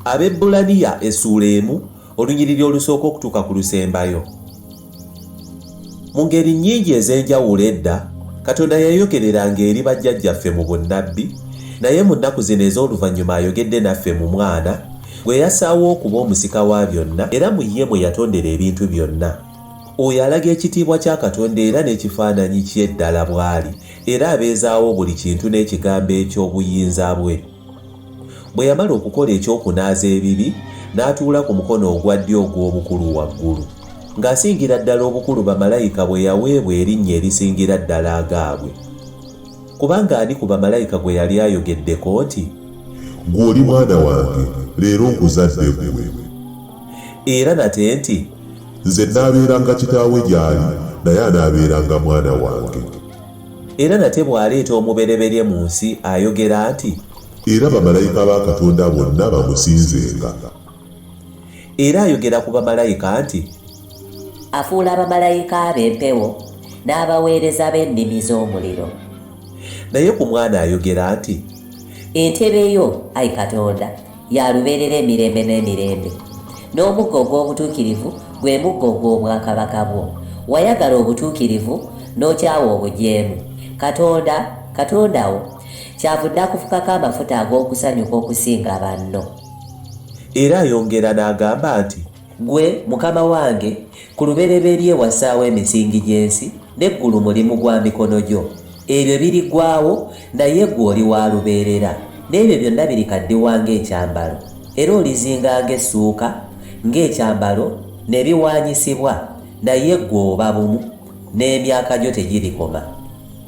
abebbulaniya essuula emu olunyiriri olusooka okutuuka ku lusembayo mu ngeri nnyingi ez'enjawulo edda katonda yayogereranga eri bajjajjaffe mu bunnabbi naye mu nnaku zino ez'oluvannyuma ayogedde naffe mu mwana gwe yasaawo okuba omusika wa byonna era mu ye mwe yatondera ebintu byonna oyo alaga ekitiibwa kya katonda era n'ekifaananyi kye ddala bw'ali era abeezaawo buli kintu n'ekigambo eky'obuyinza bwe. Bwe yamala okukola eky'okunaaza ebibi, n'atuula ku mukono ogwa ddyo ogw'obukulu waggulu, ng'asingira ddala obukulu bamalayika bwe yaweebwa erinnya erisingira ddala agaabwe. Kubanga ani ku bamalayika gwe yali ayogeddeko nti. Ggwe oli Mwana wange, leero nkuzadde ggwe? Era nate nti. Nze nnaabeeranga kitaawe gy'ali, naye anaabeeranga mwana wange. Era nate bw'aleeta omubereberye mu nsi, ayogera nti. Era bamalayika ba Katonda bonna bamusinzenga. Era ayogera ku bamalayika nti. Afuula bamalayika be empewo, n'abaweereza be nnimi z'omuliro. Naye ku Mwana ayogera nti. Entebe yo, ai Katonda. ya lubeerera emirembe n'emirembe n'omuggo ogw'obutuukirivu gwe muggo ogw'obwakabaka bwo wayagala obutuukirivu n'okyawa obujeemu katonda katonda wo kyavudde akufukako amafuta ag'okusanyuka okusinga banno era ayongera n'agamba nti Ggwe Mukama wange, ku lubereberye wassaawo emisingi gy'ensi, n'eggulu mulimu gwa mikono gyo. Ebyo birigwawo, naye ggwe oli wa lubeerera, n'ebyo byonna birikaddiwa ng'ekyambalo, era olizinga ng'essuuka, ng'ekyambalo, ne biwaanyisibwa, naye ggwe oba bumu, n'emyaka gyo tegirikoma.